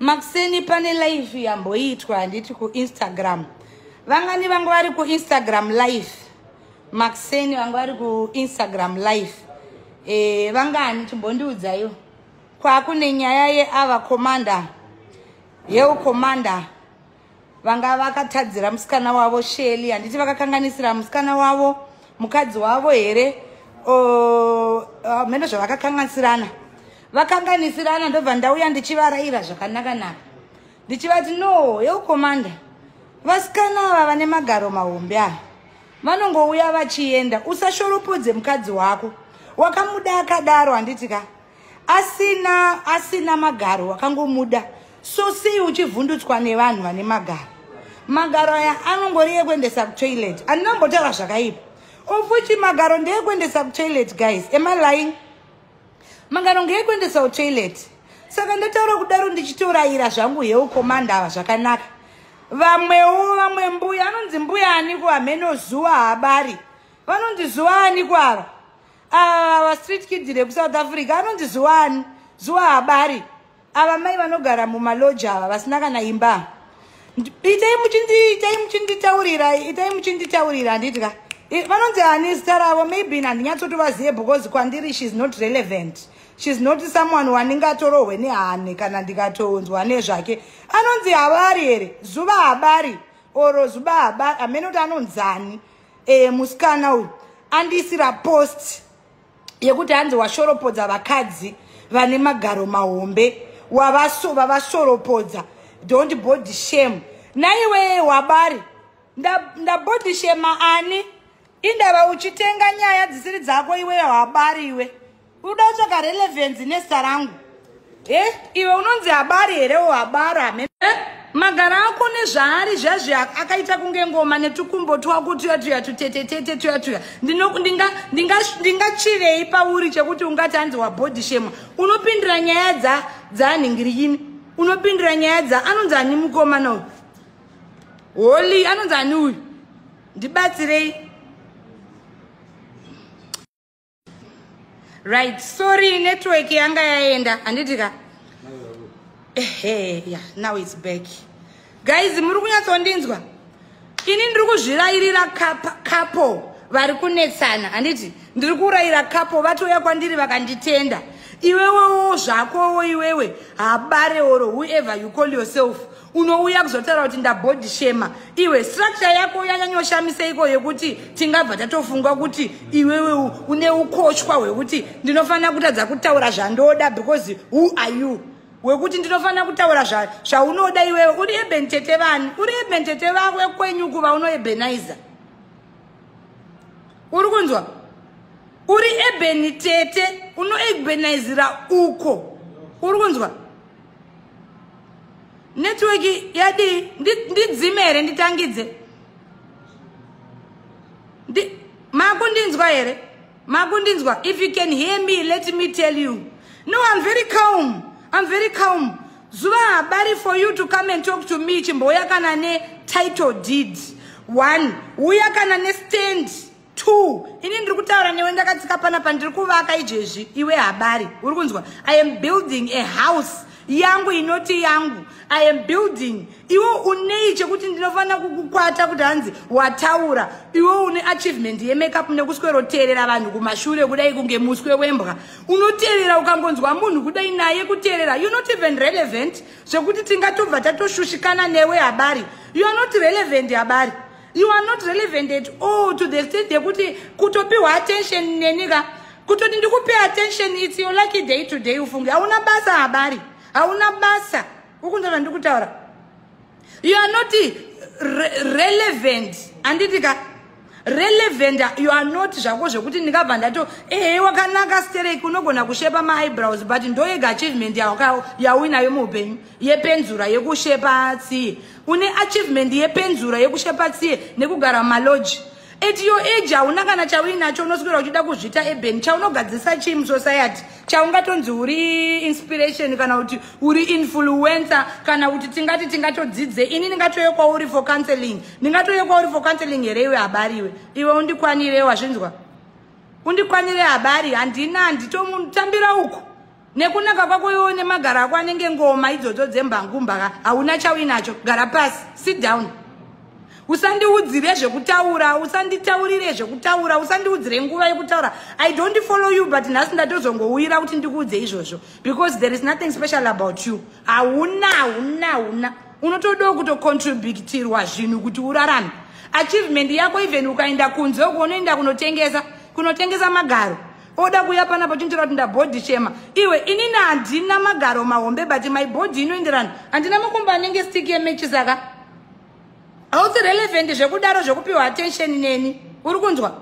makuseni pane live yamboitwa handiti kuinstagram vangani vanga vari kuinstagram live makuseni vanga vari kuinstagram live e, vangani chimbondiudzaiwo kwakune nyaya yeava komanda yeukomanda vanga vakatadzira musikana wavo sheli handiti vakakanganisira musikana wavo mukadzi wavo here hameno zvavakakanganisirana vakanganisirana ndobva ndauya ndichivaraira zvakanakanaka ndichivati no yeukomanda vasikana ava vane magaro mahombe ava vanongouya vachienda usashoropodze mukadzi wako wakamuda akadaro handiti ka asina asina magaro wakangomuda so sei uchivhundutswa nevanhu vane magaro magaro aya anongori ekuendesa kutoilet andina mbotaura zvakaipa ofuti magaro ndeekuendesa kutoilet guys emalying magaro ngeekuendesa kutoilet saka ndataura kudaro ndichitorayira zvangu hewo komanda ava zvakanaka vamwewo vamwe mbuya anonzi mbuya aniko hameno zuva habari vanonzi zuva aniko ava ava ah, street kid rekusouth africa anonzi zuwani zuwa habari ava mai vanogara mumaloji ava vasina kana imba itai muchindiitai muchinditaurira itai muchinditaurira handidya vanonzi ani zita ravo maybe handinyatsotovazive because kwandiri sheis not relevant sheis not someone wandingatorohwe nehane kana ndikatounzwa nezvake anonzi habari here zuva habari oro zuva habari hamene kuti anonzani eh, musikana uyu andiisira post yekuti hanzi washoropodza vakadzi vane magaro mahombe wavashoropodza don't body shame naiwee wabari ndabody nda shema ani indava uchitenga nyaya dzisiri dzako iweyo habari iwe uda kutsvaka relevance nezita rangu e iwe unonzi habari here o habari hamene eh, magara ako nezvaari zvazvi akaita kunge ngoma netukumbo twako tuya tuya tutetetete tuya tuya ndingachivei pauri chekuti ungati hanzi wabody shema unopindira nyaya dza dzaanhingiriyini unopindira nyaya dza anonzi ani mukomana uyu holy anonzi ani uyu ndibatsirei right sorry network yanga yaenda handiti ka ehe yeah now it's back guys muri kunyatsondinzwa ini ndiri kuzvirayirira kapo vari kunetsana handiti ndiri kurayira kapo vatouya kwandiri vakanditenda iwewewo zvakowo iwewe habare oro whoever you call yourself unouya kuzotaura kuti ndabody shema iwe structure yako yanyanyoshamisa iko yekuti tingabva tatofunga kuti iwewe une ukoshwa hwekuti ndinofanira kutadza kutaura zvandoda because who are you wekuti ndinofanira kutaura zvaunoda iwewe uri eben tete vani uri eben tete vawe kwenyu kuva unoebenizer uri kunzwa uri ebeni tete unoebenizira uko uri kunzwa network yadii ndidzime here nditangidze makundinzwa here makundinzwa if you can hear me let me tell you no i'm very calm i'm very calm zuva habari for you to come and talk to me chimbouya kana netitle deed one uya kana nestand two ini ndiri kutaura newe ndakatsika pana pandiri kuvaka izvezvi iwe habari uri kunzwa i am building a house yangu inoti yangu i am building iwe unei chekuti ndinofanira kukukwata kuti hanzi wataura iwe une achievement yemakeup nekusweroteerera vanhu kumashure kudai kunge muswe wembwa unoteerera ukangonzwa munhu kudai naye kuteerera you not even relevant zvekuti tingatobva tatoshushikana newe habari you are not relevant habari you are not relevant at all to the extent yekuti kutopiwa attention neni ka kutoti ndikupe attention its your lucky day to day ufunge hauna basa habari hauna basa ukunza zvandiri kutaura you are not re relevant handiti ka relevant you are not zvako zvekuti ndingabva ndato ehe wakanaka stereki unogona kushepa maeyebrows but ndoyega achievement yawinayo muupenyu yepenzura yekushepa tsiye une achievement yepenzura yekushepa tsiye nekugara maloji at your age hauna kana chauinacho unoswera uchida kuzvita eben chaunogadzirisa chii musociety chaungatonzi uri inspiration kana kuti uri influencer kana kuti tingati tingatodzidze ini ndingatoye kwauri for counseling ndingatoye kwauri for counseling here iwe habari iwe iwe undikwanire wazvinzwa undikwanire habari handina handitomutambira uku nekunaka kwako iwewo nemagara ako anenge ngoma idzodzo dzembangumbaka hauna chauinacho gara pasi sit down usandiudzire zvekutaura usanditaurire zvekutaura usandiudzire nguva yekutaura i don't follow you but nhasi ndatozongouyira kuti ndikuudze izvozvo because there is nothing special about you hauna hauna hauna unotodawo kutocontributirwa zvinhu kuti urarame achievement yako even ukaenda kunze uko unoenda kunotengesa kunotengesa magaro oda kuya panapa chonjera kuti ndabhodhi chema iwe inini handina magaro mahombe but my body inoenderana handina makumba anenge stick yemechi saka hausi relevant zvekudaro zvekupiwa attention neni uri kunzwa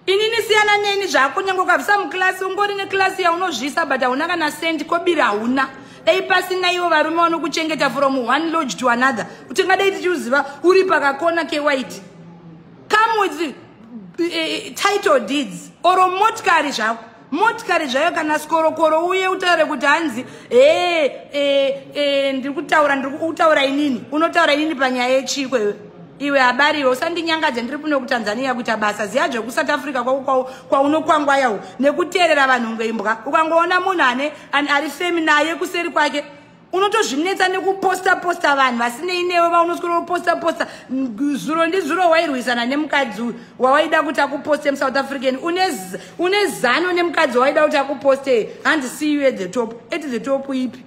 inini siyana neni zvako nyange ukabvisa muklasi ungori neklasi yaunozvisa but hauna kana sendi kobiri hauna dai pasina ivo varume vanokuchengeta from one lodge to another kuti ngadai tichiuziva uri pakakona kewhite come with uh, title deeds or motikari zvako motikari zvayo kana sikorokoro uye utaure kuti hanzi ee eh, e eh, e eh, ndiri kutaura ndiri kutaura inini unotaura inini panyaya yechiko iwe iwe habari iwe usandinyangadze ndiri kuno kutanzania kuita basa ziya zvekusouth africa kwako kwaunokwangwayawo nekuteerera vanhu ngeimbwa ukangoona munhu ane ari femi naye kuseri kwake unotozvinetsa nekuposta posta vanhu vasinei newe vaunoswera kuposta posta zuro ndizuro wairwisana nemukadzi uyu wawaida kuti akuposte musouth african une zano nemukadzi wawaida kuti akuposte hanzi see you at the top at the top ipi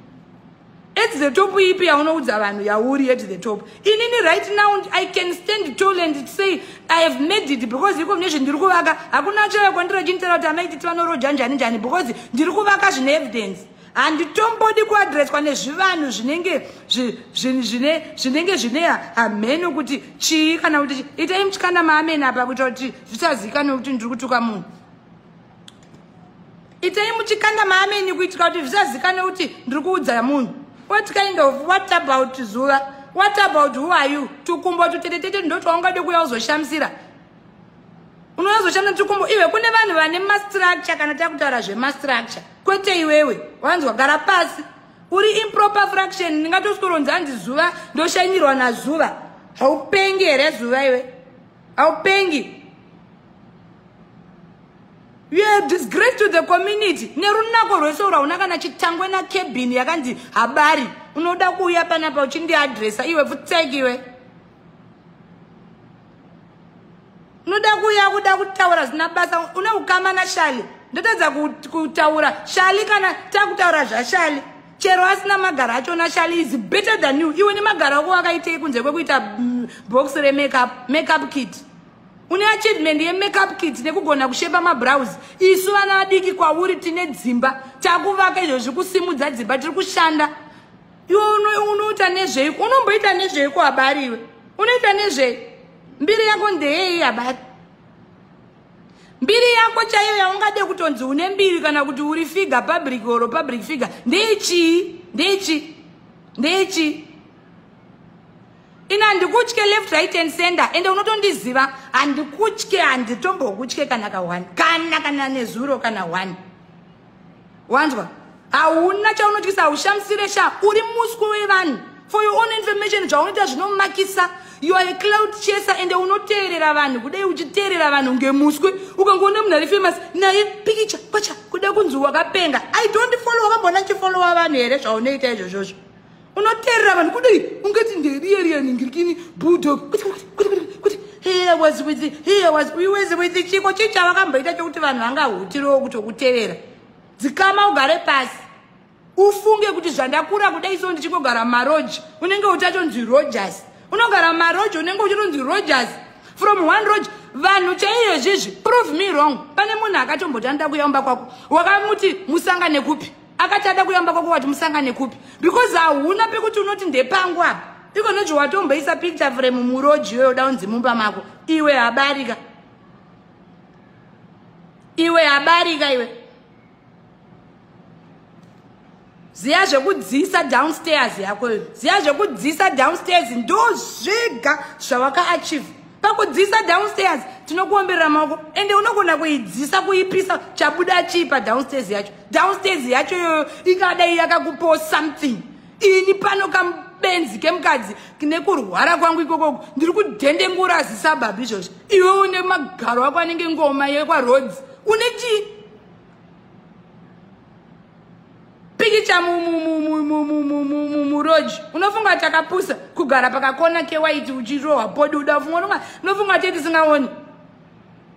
at the top ipi yaunoudza vanhu yauri at the top inini right now i can stand tall and say i have made it because iko mune zvendiri kuvaka hakuna chaiyo kwandiro chinitera kuti amaititi vanoroja njani njani because ndiri kuvaka zvine evidence handitombodi kuadreswa nezvivanhu zvinenge zvinenge zvine hamheno kuti chii kana kuti itai mutyana maameni apa kuita kuti zvisazikanwe kuti ndiri kutuka munhu itai muchikanda maameni kuitika kuti zvisazikanwe kuti ndiri kuudza munhu what kind of what about zuva what about who are you tukumbo tutetetete ndotwaungade kuya uzoshamisira unozoshanda tukumbo iwe kune vanhu vane mastructure kana takutaura zvemastructure kwete iwewe wanzwa gara pasi uri improper fraction ndingatosikoronzi anzi zuva ndoshanyirwa nazuva haupengi here zuva iwe haupengi you have disgrace to the community nerunako rwese ura una kana chitangwe nakebhini yakanzi habari unoda kuuya panapa uchindiadresa iwe pfutseki iwe unoda kuuya kuda kutaura zvina basa une ukama nashali ndotadza kutaura shali kana takutaura zvashali chero asina magara acho nashali is better than you iwe nemagara ako wakaitei kunze kwekuita mm, box remackup makeup kit une achievement yemackup kit nekugona kushepa mabrows isu vana vadiki kwauri tine dzimba takuvaka izvo zvikusimudza dzimba tiri kushanda iwe unoita nezvei unomboita nezvei kuabari iwe unoita nezvei mbiri yako ndeyei abari mbiri yako chaiyo yaungade kutonzi une mbiri kana kuti uri figure public or public figure ndeichii ndeichii ndeichii ini handikutye left right and center ende unotondiziva handikutye handitombokutye kana ka one kana kana nezuro kana one wanzwa hauna chaunotyisa haushamisire sha uri muswi wevanhu for your own information zvaunoita zvinomakisa you are a cloud chaser ende unoteerera vanhu kudai uchiteerera vanhu ngemuswe ukangoona munhu ari famous naye pikicha kwacha kuda kunzi wakapenga i don't follow wakambona chifollowa vanhu here zvaunoita izvozvozvo unoterera vanhu kudii ungati nderiyeriyani ngirikini bulldog kuti kuti kuti kuti kuti here was with here was we was with chiko chii chavakamboita chokuti vanhu vangahutirewo kutokutevera dzikama ugare pasi ufunge kuti zvandakura kudai so ndichingogara maroji unenge uchatonzi rogers unogara maroji unenge uchatonzi rogers from one roji vanhu chaiyo izvizvi prove me wrong pane munhu akatombotanida kuyaumba kwako wakamuti musangane kupi akati ada kuyamba kwako wati musangane kupi because hauna pekuti unoti ndepangu apa iko noji watomboisa picture frame muroji iyoyo uda unzi mumba mako iwe habarika iwe habarika iwe ziya zvekudzisa downstairs yako iyo ziya zvekudzisa downstairs ndo zvega zvawakaachieve pakudzisa downstairs tinokuomberera maoko ende unogona kuidzisa kuipisa chabuda chii padownstairs yacho downstairs yacho iyoyo ikadai yakakupawo something ini pano kamubenzi kemukadzi nekurwara kwangu ikokoko ndiri kudhendengura azisabhabhi izvozvo iwe une magaro ako anenge ngoma yekwaroads une chii pikicha muroji unofunga kuti akapusa kugara pakakona kewaiti uchirohwa podi uda ufunga unofunga kuti tisingaoni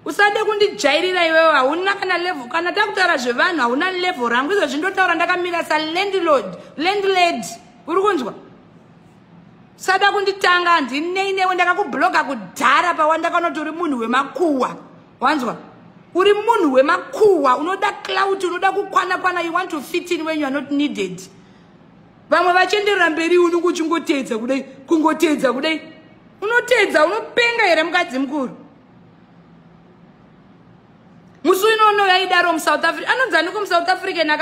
usade kundijairira iwewe hauna kana level kana takutaura zvevanhu hauna level rangu izvo zvindotaura ndakamira salandlord landlad uri kunzwa sada kunditanga handinei newe ndakakubloga kudhara pawandakanoti uri munhu wemakuwa wanzwa uri munhu wemakuwa unoda clout unoda kukwana kwana you want to fit in when you are not needed vamwe vachienderera mberi unenge uchingoteedza kudai kungoteedza kudai unoteedza unopenga here mukadzi mukuru musi unono yaidaro musouth africa anonzi aniko musouth african